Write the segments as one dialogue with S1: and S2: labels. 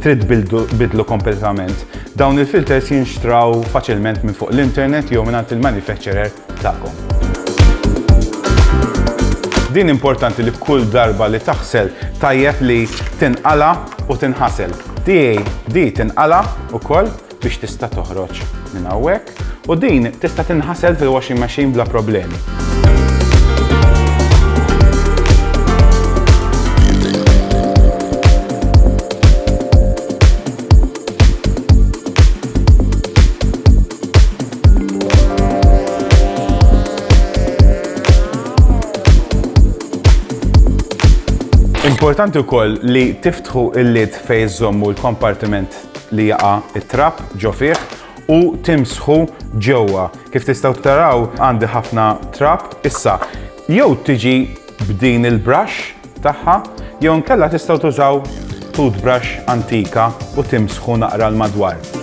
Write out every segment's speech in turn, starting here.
S1: Trid biddlu kompletament? Dawn il-filters jinxtraw faċilment minn fuq l-internet jew minn il-manufacturer tagħkom. Din importanti li kull darba li taħsel tajjeb li tinqala u tinħasel. DAD tinqala u koll biex tista' toħroġ minn hawnhekk u din tista' tinħasel fil-washing machine bla problemi. Importanti wkoll li tiftħu il-lid fejn żommu l-kompartiment li jaqa' t-trab ġo fih u timsħu ġewwa. Kif tistgħu taraw għandi ħafna trab. Issa, jew tiġi b'din il-brush tagħha jew inkella tistgħu tużaw toothbrush antika u timsħu naqra 'l madwar.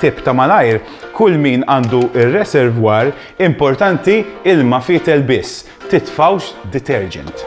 S1: Tip ta' malajr, kull min għandu r-reservoir importanti ilma fietel biss, titfgħux detergent.